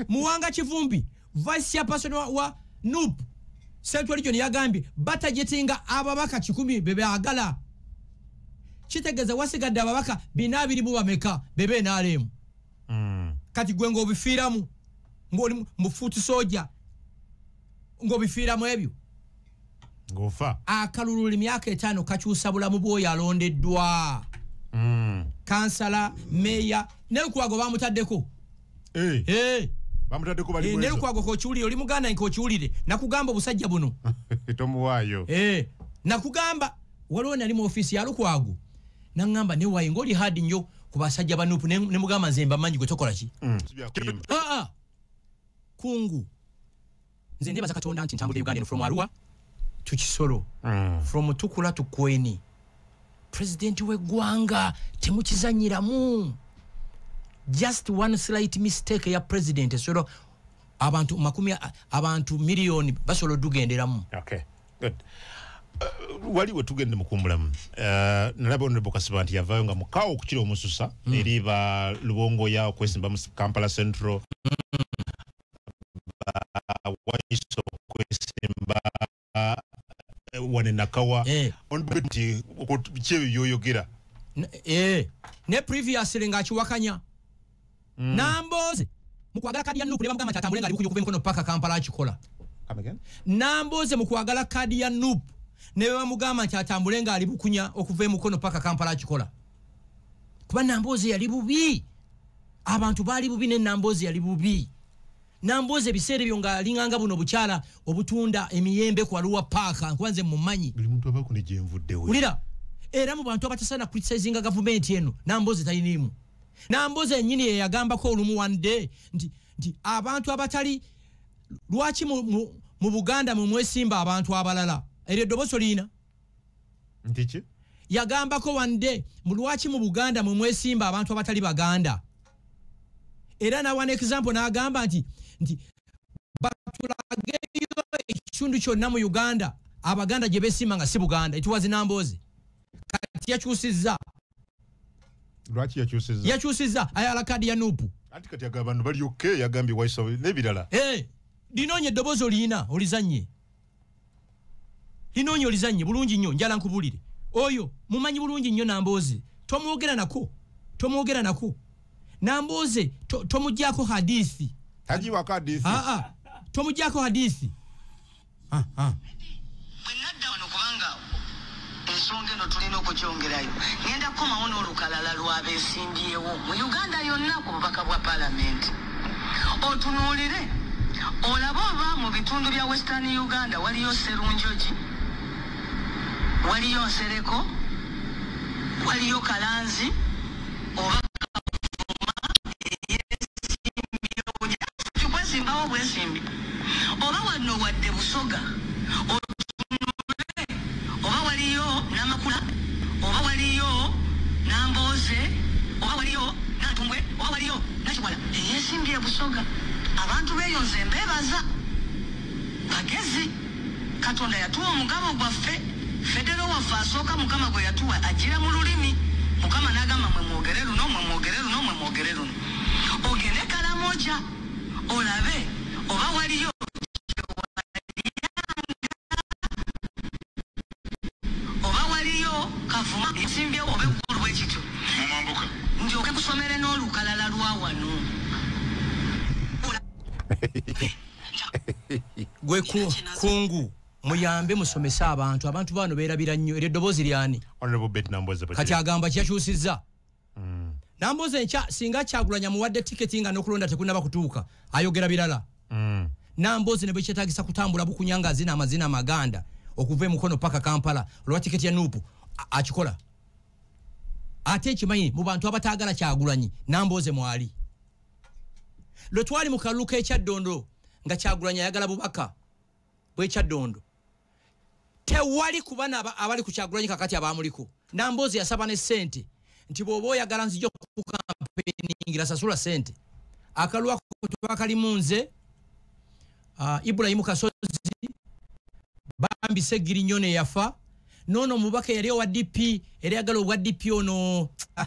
muwanga kivumbi vice chairperson wa, wa nup central region yagambye batajetinga ababaka kikumi bebeagala kitegeeza wasigadde ababaka bina abiri mu bameka bebe nalemu mm. kati gwe ngaobifiiramu ngaoli mufuuti soja ngaobifiiramu ebyo ngofa akalulu limyaka etano kakyusa bulamu bwoyo alondeddwa mm. kansala meya nelukwago bamutaddeko hey. hey. bamutaddeko bali eh, nelukwago kokiwulire oli muganda nkokiwulire nakugamba obusajja buno tomuwaayo hey. Eh, nakugamba waliwo nali mu ofisi ya lukwago nangamba newaye ngaoli hard nnyo ku basajja banupu nemugamba ne nze mbamanyi gwe tokolaki mm. kungu nze ndebaza katonda nti ntambulira uganda eno from arua to kisoro mm. from tukula to kweni president wegwanga temukizanyiramu just one slight mistake ya president esolo abantu makumi abantu million basolo dugenderamu okay good uh, wali wetugende mukumbulamu uh, nalaba onrebo kasiba nti yavayo nga mukawo okukira omususa mm. eri ba lubongoya okwesimba mu kampala central mm. bawaiso okwesimba wane nakawa eh. nti kyebyo byoyogera eh. ne previously ngaakiwakanya mm. nambooze mukwagala kadi ya nupu nebamugamba nti atambule nga ali kuyukuba emikono paka kampala akikola nambooze mukwagala kadi ya nupu nebamugamba nti atambule nga ali bukunya okuva emukono paka kampala akikola kuba namboozi yali bubi abantu baali bubi ne namboozi yali bubi namboozi ebiseera ebyo nga alinganga buno obukyala obutunda emiyembe ku waliwa paaka nkuba nze mumanyi ulira era mu bantu abatasaana criticizinga gavumenti eno namboozi taliniimu namboozi enyini yeyagambako olumu one day nti, nti abantu abatali lwaki mu, mu, mu buganda mwe mwesimba abantu abalala eryo eddoboosi oliyina ntiki yagambako wande mulwaki mu buganda mwe mwesimba abantu abatali baganda era nawa neexample nagamba nti nti batulageyo ekitundu kyonna mu uganda abaganda gye besimba nga si buganda etuwazi namboozi kati yakyusizza lwaki yakyusizza yakyusizza ayala kadi ya nupu anti kati aga abantu bali oke yagambye waisawe n'ebirala eh, linoonye eddoboozi oliyina olizannye lino onyo lizanye bulungi nnyo njala nkubulire oyo mumanyi bulungi nnyo nambooze tomwogera nako tomwogera nako nambooze tomugyako hadithi tagiwako hadithi aa ah, ah. tomugyako hadithi ah, ensonga eno tulina okugyongerayo ngenda kukomawo n'olukalala lw'abesimbyewo mu uganda yonna ku bubaka bwa palamenti otunuulire olaba oba mu bitundu bya western uganda waliyo serunjogi waliyo nsereko waliyo kalanzi oba oba wanno wadde busoga otunule oba waliyo namakula oba waliyo nambooze oba waliyo natumbwe oba waliyo nakiwala eyesimbye busoga abantu beyonze mbebaza bagezi katonda yatuwa omugabo gwaffe federo waffe asooka mukama gwe yatuwa ajira mu lulimi mukama nagamba mwe mwogere luno mwe mwogere luno mwe mwogere luno ogende kalamoja olabe oba waliyo oba waliyo kavuma esimbyewo oba eggulu bwe kityo ndyoke kusomere n'olukalala lwa wano gwe kungu muyambe musomese abantu abantu baano beerabira nnyo eryo eddoboozi lyani kati agamba kyakyusizza mm. nambuuza enkya singa kyagulanya muwadde tiketi nga nokulonda tekunaba kutuuka ayogera birala mm. nambuuzi ne bwekyetagisa kutambula bukunya nga azina amazina amaganda okuva emukono paka kampala olwa tiketi ya nupu akikola ate ekimanyi mu bantu abataagala kyagulanyi nambooze mwali lwe twali mu kalulu k'ekyaddondo nga kyagulanyi ayagala bubaka bwekyaddondo tewali kuba abali ku kyagulanyi kakati abaamuliko namboozi yasaba ne sente nti bwoba oyagala nzija okukampeiningira sasula sente akalwako twakalimu nze uh, ibulayimu kasozi bambi segiri nyo neyafa nono mubaka yali owa dp era yagala obwa dp ono ah,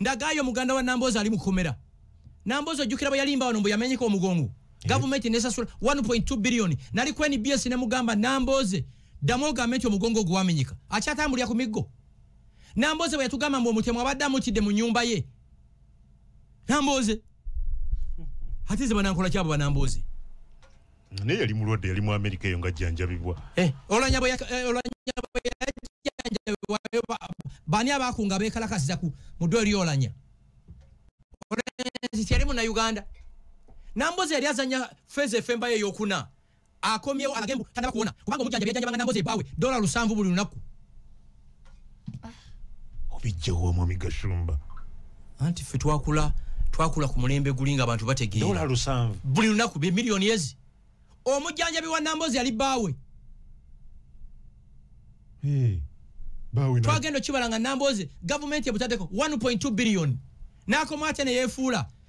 ndagaayo muganda wa namboozi ali mu kkomera namboozi ojjukira bwe yalimba wano mbu yamenyeka omugongo eh. gavumenti nesasula 1.2 biliyoni nali ku nbs ne mugamba nambooze ddamu ogambe nti omugongo ogwo wamenyeka akyatambulira ku miggo nambooze bwe yatugamba mbu omutemu abadde amutidde mu nyumba ye nambooze ate ze banankola kyabo banambooze naye yali mulwadde yali mu amerika eyo ngajjanjabibwa eh, olanyabo eh, yajanjabibwayo bani abakunga bekalakasiza ku muddo eri olanya yali muna uganda nambozi yali azanya feza efembayo eyokuna akomyewo alagembu tanabakuwona kubanga omujanjabi yajanjabanga nambozi ebawe dola lusanvu buli lunaku obijjawo omwami gashumba anti ffe twakula twakula ku mulembe guli nga abantu bategeera buli lunaku be miliyoni ezi omujjanjabi wa nambozi yali bbaawe twagenda okibala nga nambozi gavumenti ebutadeko 1.2 biliyoni n'akomaate ne yeefuula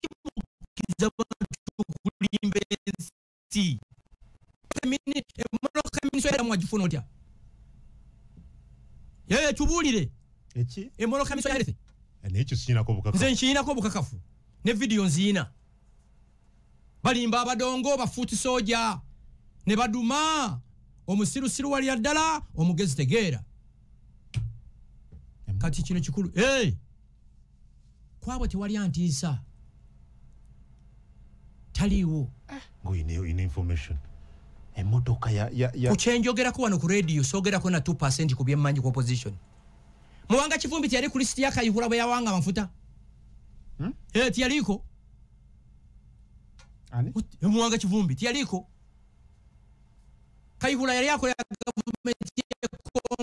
kimukiza kulimba ensi emmotoka eminisitwa mwagifuna otya yeye tubuulire eki emmotoka eminisitwa yalefe nekyo sikinako obukakafu nze nkiinako obukakafu ne vidiyo nziina balimba abadongo bafuuti soja ne baduma omusirusiru walya ddala omugezi tegeera kati kino kikulu hey! kwabo tewali antiisa taliiwo eh, ngoyina information emotoka kukyenjogerako wano ku radio sogerako na 2 ku byemmanyi ku opposition muwanga kivumbi teyali ku lisiti yakayihula bwe yawanga amafuta hmm? eh, tiyaliiko eh, muwanga kivumbi tiyaliiko kayihula yali akola gavumenti yekongo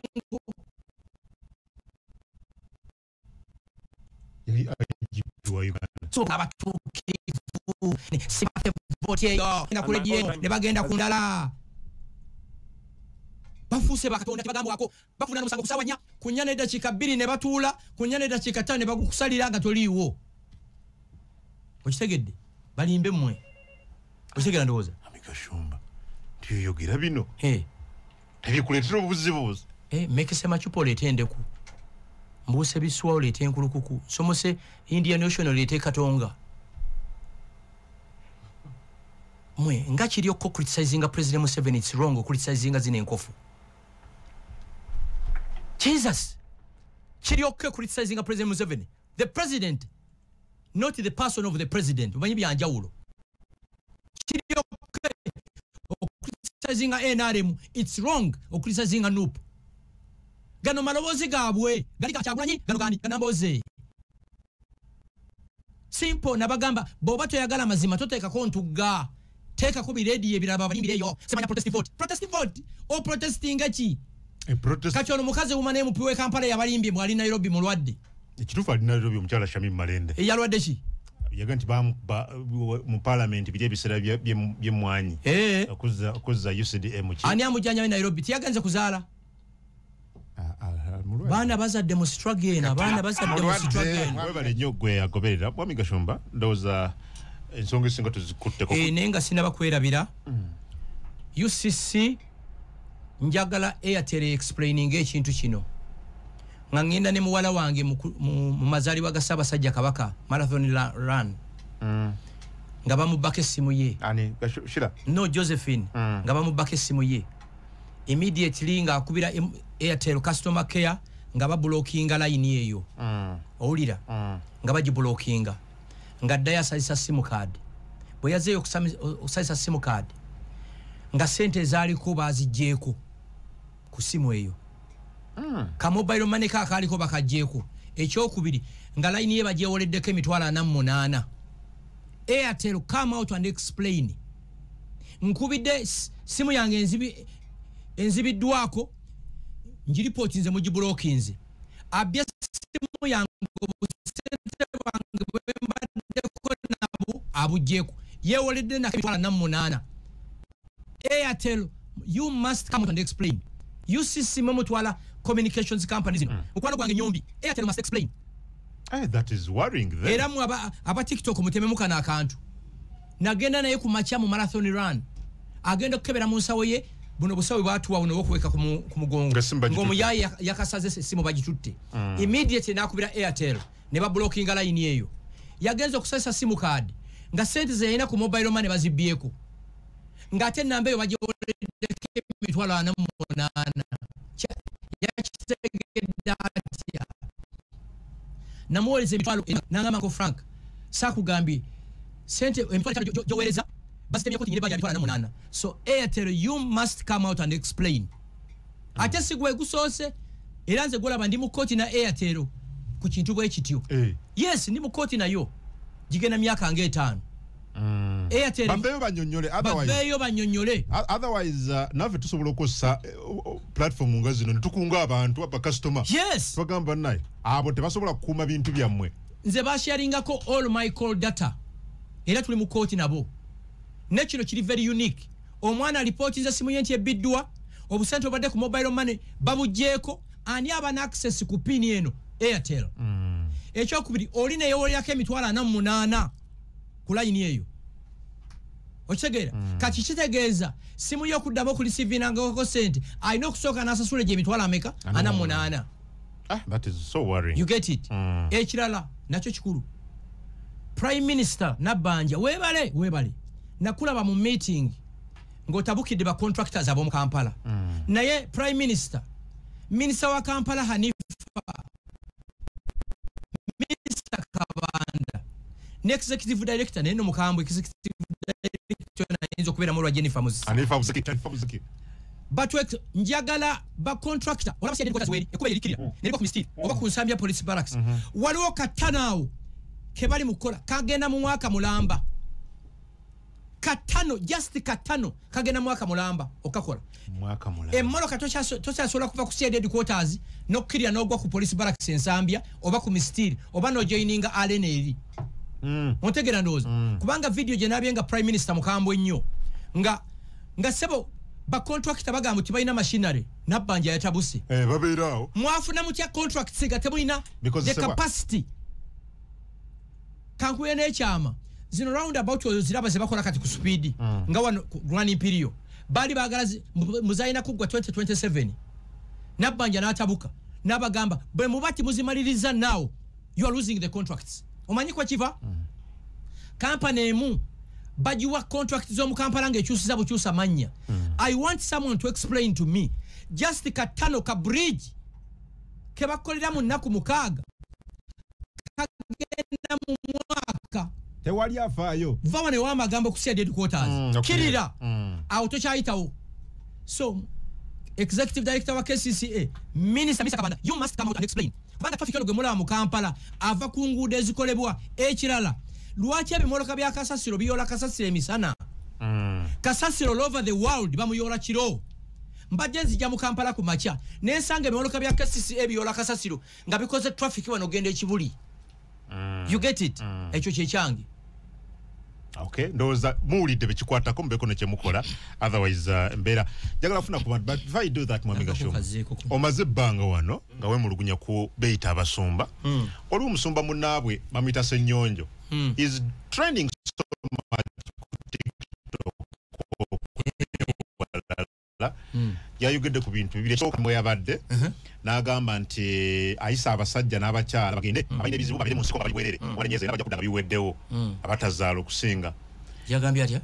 yali igp wa uganda so abatuukivu sibate voti eyo enda ku ledio ne bagenda ku ndala bafuuse bakatonda tebagambwako bafuna nomusango kusawa nya kunya nedakiika bbiri ne batuula kunya nedakiika ttaano ne bagukusalira nga toliiwo okitegedde balimbe mmwe okitegera ndowooza amigashumba tyoyogera bino hey. tebikuletera obuzibuzi eh, mekese macupa oleete endeku mbuuse biswa oleete enkulukuku nsomose indian ocean oleete katonga mwe nga kiri okko criticizinga president museven its wrong okulitisazinga zino enkofu jesus kiri okko criticizinga president museven the president not the person of the president omanyi byanjawulo kiri okay okulisizinga nrm its wrong okulisizinga nup gano maloboozi gaabwe gali gakyagulanyi gano gani ganamboozi simple nabagamba bwoba toyagala mazima toteekako ntugga teekako birediyo ebirala babalimbireyo semanya protest vote protest vote oprotestinga ki kati ono mukazi wuma naye mupiwe kampala yabalimbye mwali nairobi mulwadde ekituufu alina lero byo omukyala shamim malende eyalwadde ki yaga nti mu palamenti biri ebiseera byemwanyi eh. okuzza ucdm ki ani amujjanya we nairobi tiyagenze kuzaala ah, ah, ah, baana bazadde mu struggle eno abaana bazadde mu struggle eno webale nnyo gwe yagoberera bwami gashumba ndowooza ensonga esinga tuzikutteko eh, naye nga sinaba kwerabira mm. ucc njagala airtel explaining ekintu kino nga ngenda ne muwala wange mu mazalibwa ga ssabasajja kabaka marathon run mm. nga bamubbako essimu ye no josephine mm. nga bamubbako essimu ye immediately nga akubira airtel customer care nga babulokinga layini eyo mm. owulira nga bagibulokinga nga ddayo asazisa simukaadi bwe yazeeyo okusazisa simukaadi nga sente ezaaliko baazijjeeko ku simu eyo hmm. ka mobile money ka akaaliko bakajjeeko ekyokubiri nga layini ye bagyewoleddeko emitwalo ana mu munaana airtel come out and explain nkubidde simu yange enzibiddwako ngiripooti nze mugibulokinze abbye essimu yange obusente bwange bwembaddeko nabu abugyeeko yewoledde namitwala namunaana airtel you must come and explain ucc mwe mutwala communications company zino mm. mukwano gwange nyombi airtel must explain eh, era mwe aba tiktok mutememukana akantu nagenda naye ku makya mu marathon run agenda okukebera mu nsawo ye buno busawe bwatuwa buno bwokuweka ku mugongo ng'omuyayi yakasaze essimu bagitutte mm. immediately nakubira airtel ne babulokinga layini eyo yagenza okusesa simu kaadi nga sente zeyalina ku mobile mane bazibbyeko ng'ate enamba eyo bagiwoleddeko emitwalo ana mu munaana yakitegedde atya namuwereza emitwalo nangamba nko frank sakugambye sente emitwalo etano gyowereza basitemyeko tinyine baja mitwalo na munana so airtel you must come out and explain ah. ate sigwe gusoose era nze gwolaba ndi mu kkooti na airtel ku kintu bwe kityo eh. yes ndi mu kkooti nayo gigenda myaka nga etaano Mm. Airtel baveyo banyonyole otherwise baveyo banyonyole otherwise uh, nave tusobola okosa uh, uh, platform nga zino netukunga abantu aba customer yes twagamba naye abo tebasobola kukuuma bintu byammwe nze basharingako all my call data era tuli mu kooti nabo ne kino kiri very unique omwana alipooti nze simu ye nti ebbiddwa obusente obadde ku mobile money babugyeko ani aba na access ku pini eno airtel mm. ekyokubiri oli neyewolerako emitwalo ana mu munaana ku layini eyo okitegeera mm. kati kitegeeza simu yokuddamu okulisivinangako sente alina okusooka nasasula egyo emitwalo ameka ana munaana ah, mm. ekirala nakyo kikulu prime minister nabbanja webale webale nakulaba mu meeting ngaotabukidde bacontractors ab'omu kampala mm. naye prime minister minisita wa kampala hanifa Mr. Kabanda ne executive director naye no mukambwe executive director nayenzo kubera mu lwa Jennifer Muzi Anifa Muzi Tanifa Muzi Batwek njagala ba contractor wala basi ndikoza weli ekubele likiri mm. nilikuwa kumistiri mm. oba kunsambia police barracks mm -hmm. waliwo katanao kebali mukola kagenda mu mwaka mulamba katano just katano kagenda mwaka mulamba okakola mwaka mulamba emoro kato cha to cha sola kuva kusia dead quarters no kiria no gwa ku police barracks in Zambia oba ku mistir oba no joining alene eri mm. mutegera ndozo mm. kubanga video je nabye nga prime minister mukambo nnyo nga nga sebo ba contractor bagambo tibaina machinery nabanja ya tabuse eh babirao mwafu na mutya contract siga tebulina the capacity seba. kankuye n'ekyama zino round about oyo ziraba ze bakola kati ku supiidi mm. nga wano running period baali baagala muzalina kuggwa 2027 nabbanja n'atabuka n'abagamba bwe muba timuzimaliriza now you are losing the contracts omanyi kwa kiva mm. kampani emu bagiwa contract z'omu kampala ng'ekyusiza bukyusa mannya mm. i want someone to explain to me just katano ka bridge ke bakolera mu nnaku mukaaga kagenda mu mwaka tewali afaayo va wano ewa amagambo okusiya dead quarters Mm, okirira. kirira Mm. awo tokyayitawo so executive director wa kcca minister misa kabanda you must come out and explain kubanga traffic ono gwe mulaba mu kampala ava ku nguudo ezikolebwa ekirala lwaki ebimoloka bya kasasiro biyola kasasiro emisana Mm. kasasiro all over the world bamuyola kiro mbadde nzija mu kampala ku makya nensanga ebimoloka bya kcca biyola kasasiro nga bikoze traffic wano genda ekibuli mm. you get it mm. ekyo kyekyange okay ndoza muulidde bekikwatako mubeko nekyemukola otherwise uh, mbeera njagala kufuna ku bantu but if i do that mwami gashoma omaze ebbanga wano nga wemulugunya ku beyita abasumba mm. oli omusumba munaabwe bamuyita senyonjo mm. is training so much Hmm. yayogedde ku bintu bibiri ekyoka mwe yabadde uh-huh. n'agamba nti eh, ayisa abasajja n'abakyala bagende hmm. abalina ebizibu babire mu nsiko bali bwerere hmm. obanenyeza era bajja kudda nga biweddewo abatazaala okusinga yagambye atya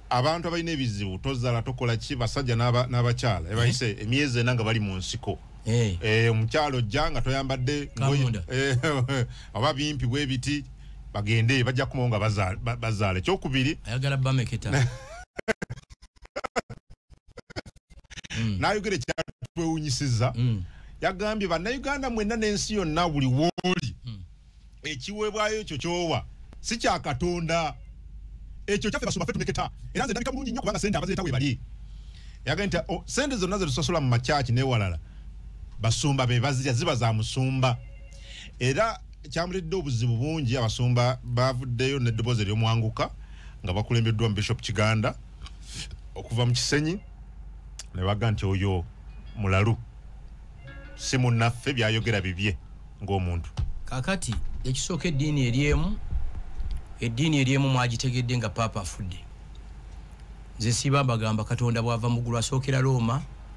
abantu abalina ebizibu tozaala tokola ki basajja n'abakyala ebayise eh? emyezi ena nga bali mu nsiko eh. omukyala ojja nga toyambadde oba bimpi bwebiti bagende bajja kumawo nga bazaala ekyokubiri ayagala bameketa mm. nayogera ekyatwewunyisiza mm. yagambye bannayuganda mwenna n'ensi yonna buli wooli mm. ekiweebwayo ekyo kyowa si kya katonda ekyo kyaffe basoma fe tumeketa era nze ndabika bulungi nnyo kubanga sente abazeeta webali yagambye nti oh, sente zonna zetusasula mu makyaki newalala basumba bebazirya ziba za musumba era kyamuledde obuzibu bungi abasumba bavuddeyo n'eddoboozi ery'omwanguka nga bakulembeddwa mu bishop kiganda okuva mu kisenyi ne baga nti oyo mulalu si munnaffe byayogera bibye ng'omuntu kakati ekisooka eddiini eri emu eddiini eri emu mwagitegedde nga paapa afudde nze siba mbagamba katonda bwava muggulu asookera looma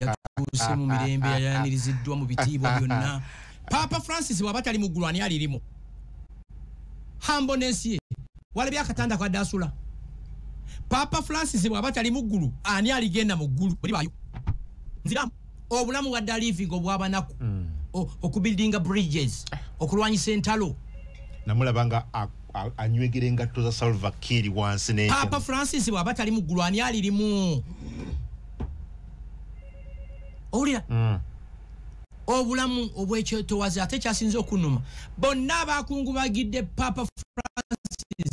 yatuuse mu mirembe yayaniriziddwa mu bitiibwa byonna paapa francis bwaba tali mu ggulu ani alirimu hambonensi ye walabye akatanda kwadde asula paapa francis bwaba tali mu ggulu ani aligenda mu ggulu olibayo nziramu obulamu wadde alivinga obwabanaku mm. okubuildinga bridges okulwanyisa entalo namulaba nga anywegera engatto za salva kiri wansi ne papa francis bwaba tali mu ggulu ani alirimu owulira mm. obulamu obwekyetowazi ate kyasinza okunuma bonna abakungubagidde papa francis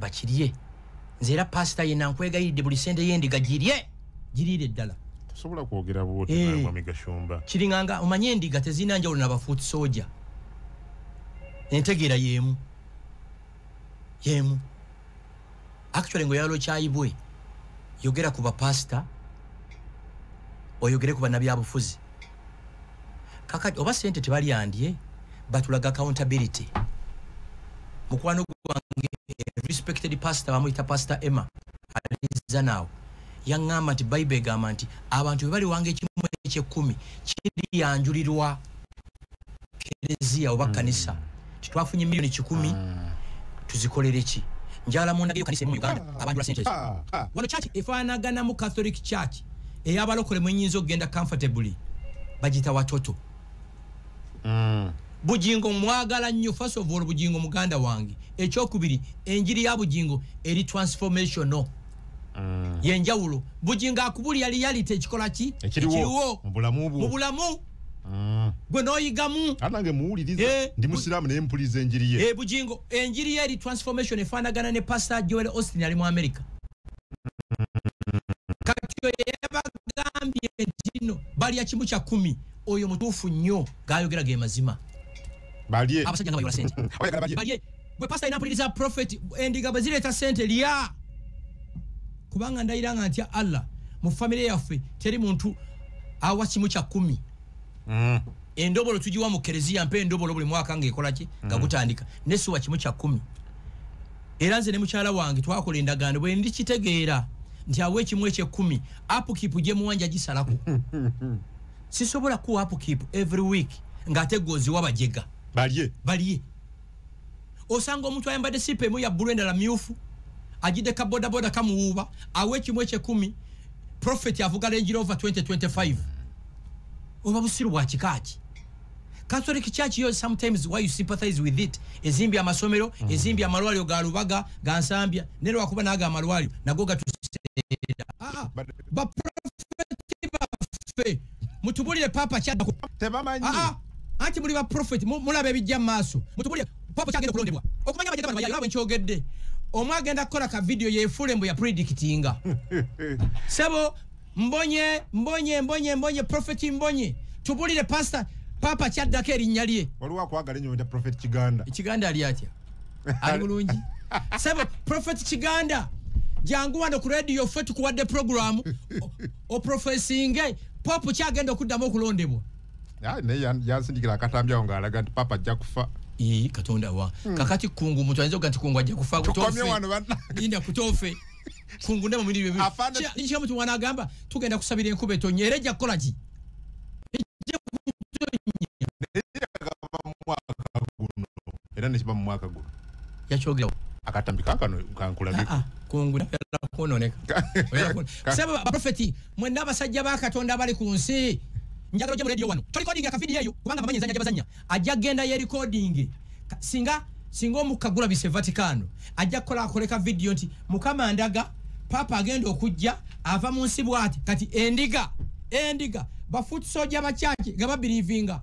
bakirye nze era pasita yena nkwegayiridde buli sente yendiga girye giriire eddala tosobola kwogera bwotimamigashumba eh. kiringanga omanye endiga tezirina njawulo nabafuuti soja entegeera yemu yemu actually ngo yalo kyayibwe yogera ku bapasita oyogere ku banabyabufuzi kakati oba sente tebalyandye batulaga accountability mukwano gwange respected pastor bamuyita pastor emma alinza naawo yaŋŋamba nti bayibe egamba nti abantu bwe baliwanga ekimu ekyekumi kiriyanjulirwa kereziya oba kanisa mm. titwafunye milioni kikumi mm. tuzikolere ki njala mundageyo kanisa emu uganda ah. abantu basente ah. ah. wano church efanagana mu catholic church eyabalokole mwenyinza okugenda comfortably bagita watoto mm. bujingo mwagala nnyo first of all bujingo muganda wange ekyokubiri enjiri ya bujingo eri transformational mm. yenjawulo bujingo akubulya liyalite ekikola ki ekiriwo mu bulamu Mm. gwe noyigamu anange muwuliriza eh, ndi musiraamu naye mpuliza enjiri ye eh, bugingo enjiri ye eri transformation efaanagana ne pastor joel austin ali mu america kati oyo yabagambye ntino balya kimu kya kumi oyo mutuufu nnyo gayogera ge mazima abasajja nga bayola sente gwe pasita alina mpuliriza profeti endiga bwe zireeta sente lya kubanga ndayira nga ntya allah mu famire yaffe teri muntu awa kimu kya kumi mm. endobolo tugiwa mu kereziya mpa endobolo buli mwaka ngaekolaki mm. nga gutandika nesiwa kimu kya kumi era nze ne mukyala wange twakola endagaano bwe ndikitegeera nti awa ekimu ekyekkumi apukipu gye muwanja gisalako sisobola kuwa apukipu every week ng'ate gwoziwa bajega balye balye osanga omuntu ayambadde sipa emu ya bbulu endala myufu ajidde ka bodaboda kamuwuuba awa ekimu ekyekumi profeti avuga lengira over 2025 oba busiru bwa kikaaki catholic church yo sometimes why you sympathize with it ezimbye amasomero mm. ezimbye amalwaliro ga lubaga ga nsambya ne lwakuba naago amalwaliro nago gatuseera ah, ah. baprofeti baffe mutubulire papa kyadako tebamanyi ah, ah. anti muli ba prophet mulaba ebijja maaso mutubulire papa kyagenda kulondebwa okumanya abajja bano bayalaba nkyogedde omu agenda kukola ka video yefuule mbu ya predictinga sebo mbonye mbonye mbonye mbonye prophet mbonye tubulire pastor papa kyaddako erinnya lye waliwo akwagala enyo nda profet kiganda ekiganda ali atya ali bulungi sebo profet kiganda jangu wano ku radio ffe tukuwadde programu oprofesinge popu kyagenda okuddamu okulondebwa ah, naye yansindikira akatambi awo ng'alaga nti papa ajja kufa ii katonda wa hmm. kakati kungu omuntu ayinza oga nti kungu ajja kufa kutoinda kutofe kungu ne mumiri byebi kya mutu mwana agamba tugenda kusabira enkuba etonye era ejja kukola ki era nekiba mu mwaka guno yakyogerawo akatambi kakano kankulabiko ah, ah, kungula kwononeka sebo baprofeti mwena abasajja ba katonda abali ku nsi njagala oje mu radio wano tolikodinga akavidiyo eyo kubanga bamanyi enzanya gyebazanya ajja kugenda yerikodinge singa singa omukka gulabise vatikano ajja kukola akoleka vidiyo nti mukama ndaga papa agenda okujja ava mu nsi bwati kati endiga endiga bafutusoja bakyaki nga babirivinga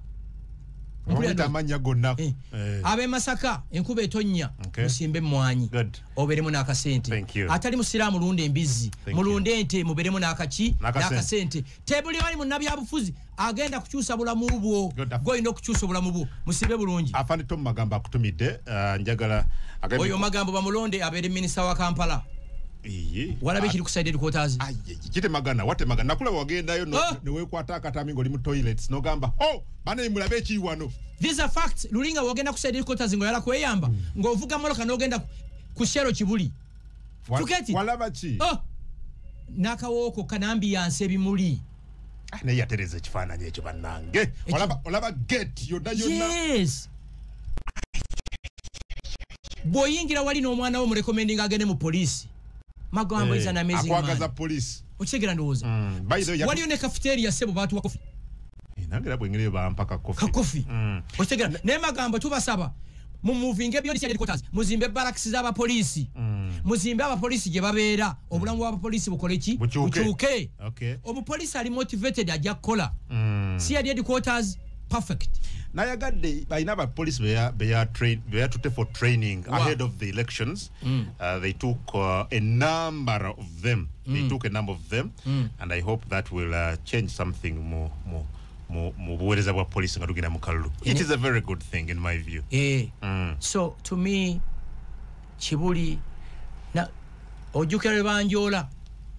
amannya gonna eh. eh. ab'e masaka enkuba etonnya musimbe emmwanyi oberemu n'akasente atali musiraamu lunda embizzi mulunde ente muberemu n'akaki n'akasente tebuli ali munnabyabufuzi agenda kukyusa bulamu bwo golina okukyusa obulamu bwo musibe bulungi afanito mu magambo akutumidde uh, njagala oyo magambo bamulonde abeere minisita wa kampala walabe kiri kusaided quarters kitemagana watemagana nakula wagendayo newekwata akatami ngaoli mu toilets nogamba oh! banaye mulabe ekiri wano these are facts luli nga wogenda ku side headquarters nga oyala kweyamba mm. nga ovuga moloka n'ogenda ku shero kibuli tuketi walaba ki oh. nakawooko kanambi yansi ebimuli ah, naye yatereza ekifaananyi ekyo bannange olaba gate yonna yonna yes bwoyingira wali n'omwana wo murekomendinga agende mu poliisi magambo hey, eh, izana amazing man akwagaza poliisi okitegera ndowooza mm, waliyo ne kafiteeri ya sebo baatuwa kofi eh, nange era bwengere bampa kakofi kakofi mm. okitegera naye magambo tubasaba mumuvinga ebyolisakotas muzimbe baraks z'abapoliisi mm. muzimbe abapoliisi gye babeera obulamu bw'abapoliisi bukole ki bukyuke omupoliisi ali motivated ajja kukola mm. si yali ediquoters perfect nayagadde balina abapolisi beyatutte for training ahead of the elections mm. uh, they took uh, a number of them they mm. took a number of them mm. and i hope that will uh, change something more more mu buweereza bwa poliisi nga tugenda mu kalulu it is a very good thing in my view eh. mm. so to me kibuli ojjukira lwe banjoola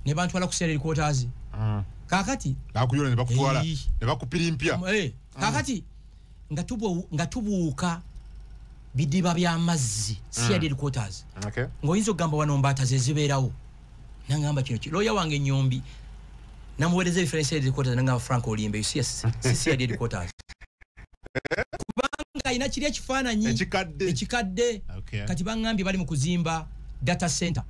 ne bantwala kuseera erikwotazi mm. kakati bakuyoola ne bakutwala ne bakupirimpya eh, mm. kakati nga tubu nga tubuuka bidiba bya mazzi CID mm. quarters okay ngoinzo gamba wano mbata zezibeerawo nangamba kino kilo ya wange nyombi namuwereze ifere CID quarters nangamba Frank Olimbe you see us CID quarters kubanga ina kiri ekifana nyi ekikadde ekikadde okay. kati bangambye bali mu kuzimba data center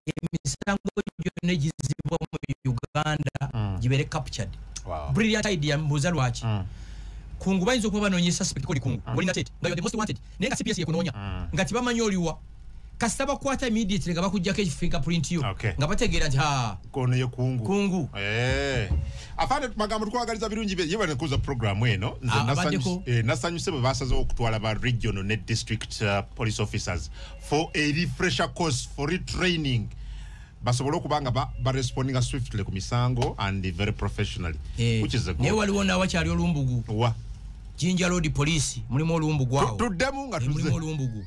emisango gyonna egizibwa mu uganda mm. gibeere captured brilliant idea mbuuza lwaki mm. kungu bayinza okuba banoonya esuspect koli kungu mm. olina tete nga the most wanted naye nga cps yekunoonya nga tibamanyi oliwa kasita bakwata immediately nga bakujjako ekifiga print yo nga bategeera nti kono ye kungu kungu eh. afande magambo tukwagaliza birungi bye yebale kuza program eno nze ah, nasanyuse eh, bwe basazewo okutwala ba regional ne district uh, police officers for a refresher course for retraining basobole okuba nga barespondinga swiftly ku misango and very professionally eh, naye waliwo nawakyali olumbugu wa jinja lodi police mulimu olumbugu awo tuddemu nga eh, tulimu olumbugu